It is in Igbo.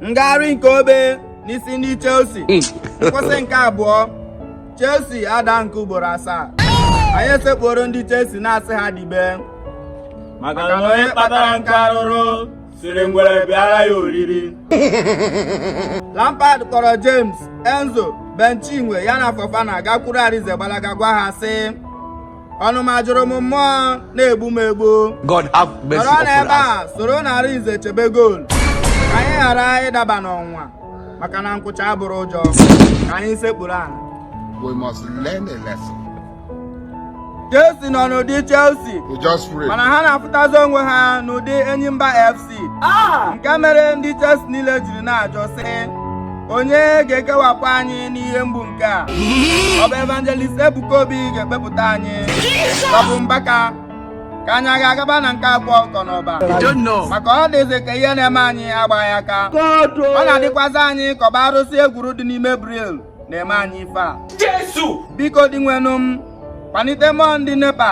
ngagharị nke obe n'isi ndị Chelsea hmm. nkwụsị nke abụọ Chelsea ada nke ugboro asaa anyị esekpuoro ndị Chelsea na-asị ha dibe maka na onye kpatara nkụ arụrụ sịrị ngwere bịara ya oriri Lampard kpọrọ James Enzo Ben Chinwe ya na Fofana gakwuru Arize gbalaga gwa ha sị ọnụma juru m mmụọ na-egbu m egbu God have mercy nọrọ upon n'ebe us. a soronụ Arize chebe goolu ka anyị ghara ịdaba n'ọnwụnwa maka na nkwụcha abụrọ ụjọ ka anyị sekpuru ala We must learn a lesson. Chelsea nọ n'ụdị Chelsea We just pray. mana ha na-afụtazi onwe ha n'ụdị Enyimba FC isi ah! nke mere ndị Chelsea niile jiri na-ajụ sị onye ga-ekewapụ anyị n'ihe mgbu nke a ọ bụ evangelist Ebuka Obi ga-ekpepụta anyị ọ bụ Mbaka ka anyị aga agaba na nke Akwa Ọkụkọ n'Ọba maka ọ dịzi ka ihe na-eme anyị agbaghị aka ọ na-adịkwazị anyị ka ọ bụ arụsị e gwuru dị n'ime Bridge na-eme anyị ife a biko Dinwenụ m kpanite mmụọ ndị nepa